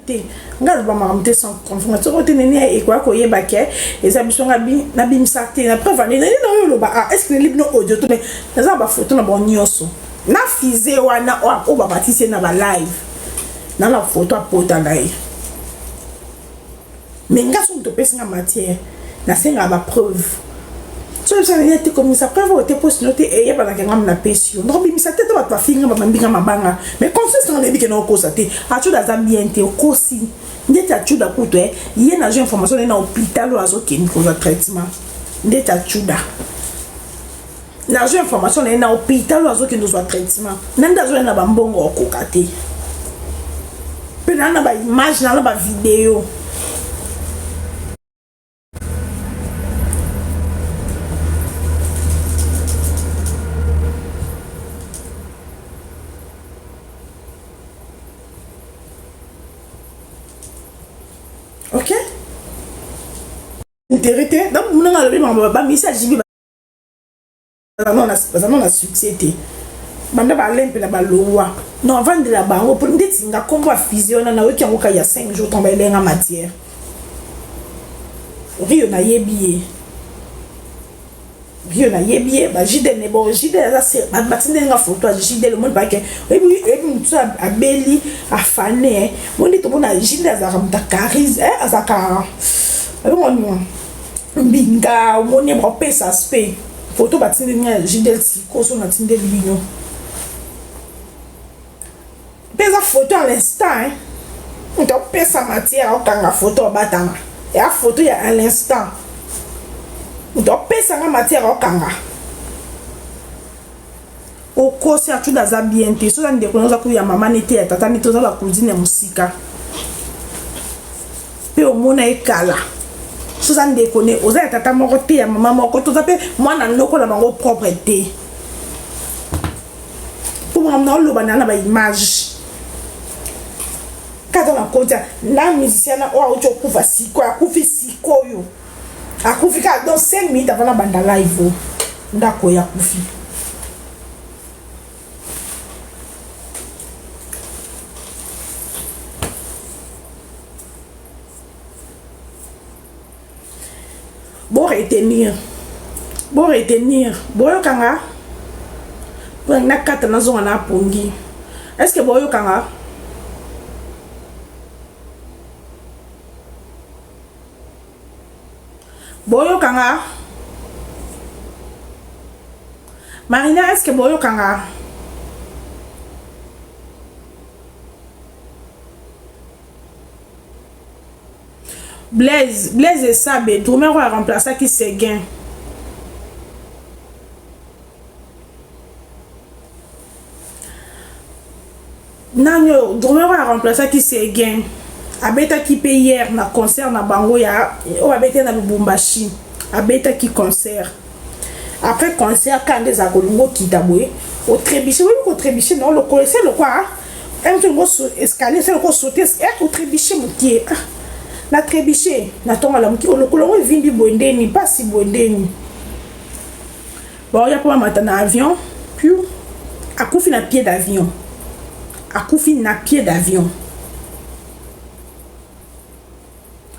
te nga aloba makambo te sans confirme soko te nene ekoya koyeba ke eza biso nga nabimisa te na preuve ane nene nayo oloba a ah, estce neli bino audio to me naza na bafoto na bango nyonso na fize wana oyo babatisi ye na balive na na foto apota na ye Mais nga soki moto opesi nga matière, nasengaka ba preuve. Soki oza na te komisa preuve oyo te mpo sino te eyebanaka eh, ngambo napesi yo. Nakobimisa te te bato bafingi nga babambi nga mabanga. Mais confiance nanga nayebi kena okosa te. Acuda aza bien te, okosi. Ndeti acuda kutu, eh, ye nazwi information naye na hôpital oyo azokende kozwa traitement. Ndeti acuda. nazwi information na ye na hôpital oyo azokende ozwa traitement na nde azwai na bambongo okoka te mpe naa na baimage naa na bavideo ok intérêt te donc munanga alobi makambo bamisa jibi baza no na succès te banda balempe na balongwa no avandela bango mpo ndeti nga nkombo ya fize wana nayoki yango kai ya 5 jour ntango bayelenga matière rio nayebi ye rio nayebi ye bajide ne bon jide aza se batindeli nga foto ya jide lomoni bake oyebi motu abeli afane moni tomona jide azalaka moto ya carise azalaka abengwani mbinga omoni bapesa aspect foto batindeli nga ya jidel sikoso natindeli bino mpe eza foto ya l'instant moto apesa matière akokanga foto abatama ya foto ya à l'instant moto apesanga matière akokanga Okosi achuda aza bien te. Soza ndeko na oza ko ya mama nete ya tata nete oza ba cousine ya musika. Pe omona ye kala. Soza ndeko ne oza ya tata moko te ya mama moko toza pe mwana noko na bango propre te. Pour moi na loba na na ba image. Kaka na konta na musicien na oyo auti okufa siko akufi sikoyo. akufi kaka donc 5 minutes avant nabanda live o ndako ya kufi bo retenir bo retenir boyokanga mpo nakata nazonga na pongi est ce que boyokanga Boyoka nga Marina est-ce que boyoka nga Blaise Blaise Esabe Drumero a remplaça ki Seguin nani oyo drumeur oyo aremplaçaki Seguin abetaki mpe hier na concert na bango ya oyo babetaki na Lubumbashi abetaki concert après concert kanda ezala kolinga okita boye otrebiche oyebi kotrebiche na lokolo ese lokwa mtongo escalier ese lokwa sote eh, otrebiche mokie ah, na trebiche na ntongo alamuki olokolo yango evimbi boye ndeni mpasi boye ndeni baoya mpo bamata na avion piu akufi na pied d'avion akufi na pied d'avion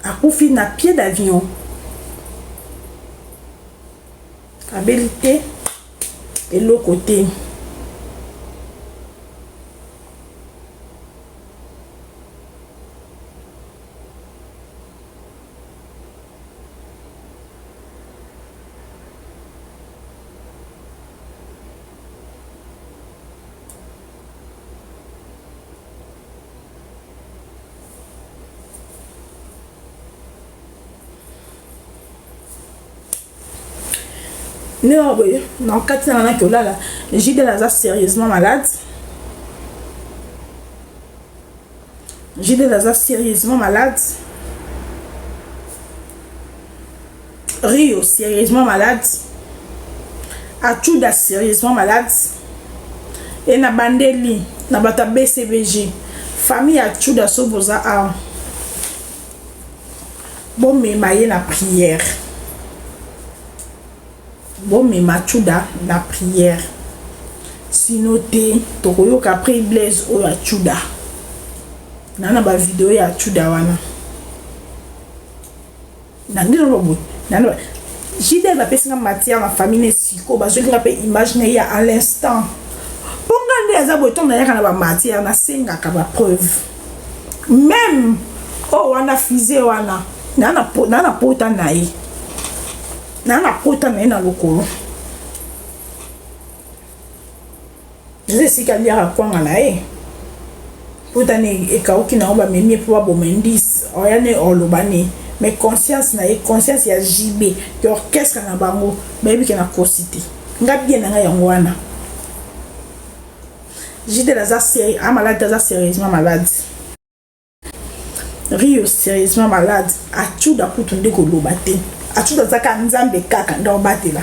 akufi na pied d'avion abeli te eloko te neo boye na kati na naki olala jidel aza sérieusement malade Jidel aza serieusement malade. Rio serieusement malade. Achuda serieusement malade. Et na bandeli na bata BCBG. Famille Achuda soboza a. Bon mais maye na prière. Bo mema tshuda na prière si no te toko yoka après blaise oyo ya tshuda na na ba video ya tshuda wana na ngi na boye na na JDL ba pesi nga matière na famille ne siko ba zoli nga pe image na ya à l'instant po nga nde aza boye tonga yaka na ba matière na sengaka ba preuve même oh wana fusée wana na na na pota na ye na nakota na ye na lokolo eza esika aliaka kwanga na ye potani ekauki nango bamemi ye mpo baboma indice oya ne oloba ne mais conscience na ye conscience ya jb ke orchestre na bango bayebi ke na kosi te nga bien na nga yango wana jidel aza seri amaladi aza serieusement maladi rio serieusement malade acuda kutu nde koloba te acuda aza kaka nzambe kaka nde obatela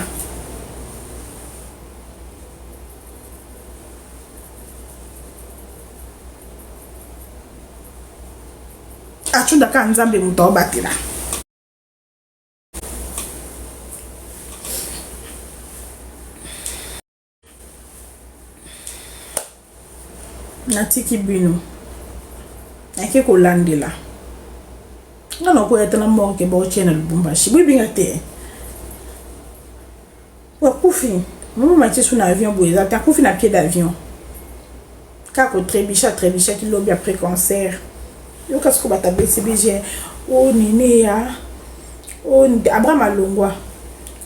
acuda kaka nzambe moto aobatela natiki bino nake kolandela nga nakoya ata na morke baotie na lubumbashi boyebinga te akufi mama matisu na avion boye eza te akufi na pied d'avion Kaka ko trebucher a trebuchaki lobi après concert. Yoka sikoyo batu ya BCBG oh Neneya oh Abraham alongwa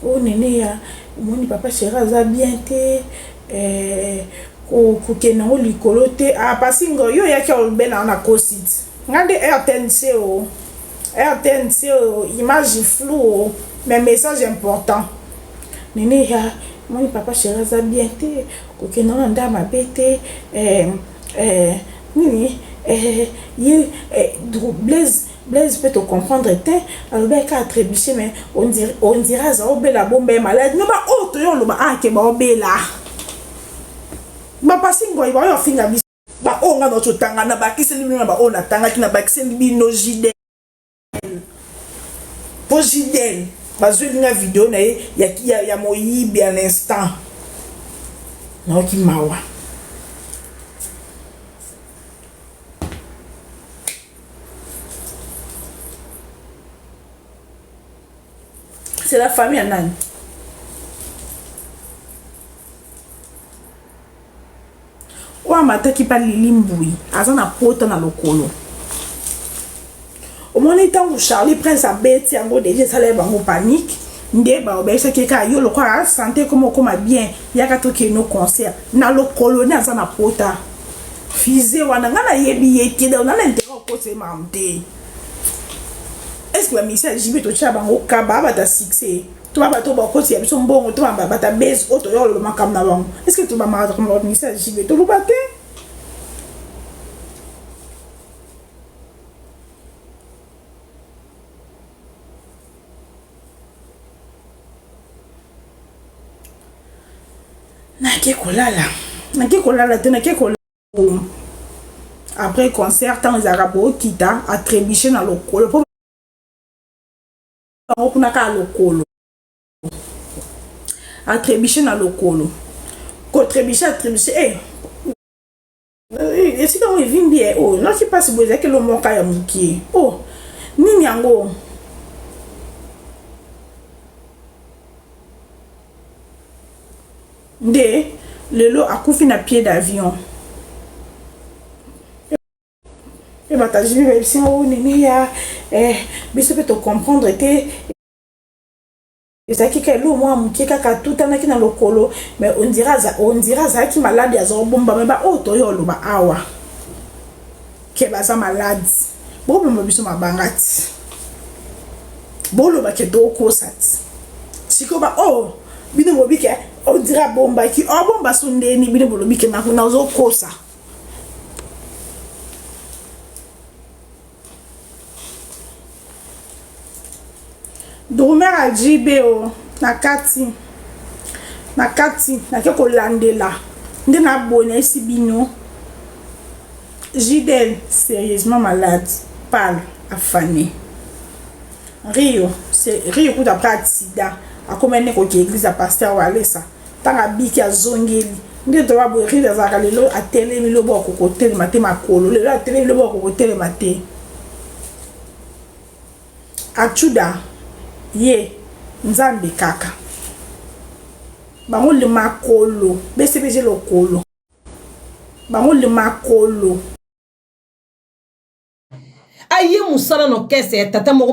oh Neneya omoni papa Cheri aza bien te eh, kokende yango likolo te ah, pasi ngo yo oyaki olobela yango na cosit nga nde rtnc o rtnc o image flou o mais message important nene ya moni papa sheri aza bien te Kokende wana nde mabe te eh eh nini eh ye eh dru blaise blaise pe to comprendre tein alobaki kaka trebuche mais on dirait on dirait aza obela abomba ye malade mais ba oyo toye oloba ah ke ba obela ba pasi ngoi ba oyo afinga biso ba oyo nga na totanga na bakiseli bino na ba oyo na tangaki na bakiseli bino jide Pojidel bazweli nga video na ye ya, ya, ya moyibi ya l'instant nayoki mawa c'est la famille ya nani Oyo amataki pa lili mbuyi aza na pota na lokolo omoni tangu Charlie Prince abeti yango deja esala ye bango panique nde bayebisaki ye kaka yo lokola sante ekoma okoma bien yaka tokende no concert na lokolo nde aza na pota fize wana ngai nayebi ye te donc nana intérêt okosa ye makambo te est ce que bamisa jibe totyela bango kaba bata succès to ba bato bakoti ya biso mbongo to ba bata base oyo toyoka loba makambo na bango est ce que tobamaka tokomi bakomisa ya jibe toloba te nake kolala nake kolala te nake kolala après concert ntango ezalaka bookita atrebuche na lokolo bango kuna kaka lokolo atrebiche na lokolo kotrebiche atrebiche e eh, esika yango evimbi e oyo naki mpasi boye ezalaki lomoka ya mokie o oh, nini yango nde lelo akufi na pied d'avion mpe batajini bayebisi yango oh, neneya eh, biso mpe tocomprendre te ezalaki ka eloko mwa moke kaka atutanaki na lokolo me ondira azalaki maladi azobomba me baoyo oh, toyo oloba awa ke baza maladi bobomba biso mabanga ti boloba ke tokosa ti sikoyo baoyo oh, bino bobi ke ondira abombaki obomba so ndeni bino bolobi ke nakuna ozokosa Drummer ya JB o na kati na kati nake kolandela nde na boye nayesi bino JDL sérieusement malade pale afane Rio c'est Rio kuta après accident akomaki ne koki église ya pasteur Walesa Tango abiki azongeli nde droit boye rire azalaka lelo atelemi lobo akokotelema te makolo lelo atelemi lobo akokotelema te achuda ye nzambe kaka bango le makolo bcbg lokolo bango le makolo aye mosala na orchestre ya tata moko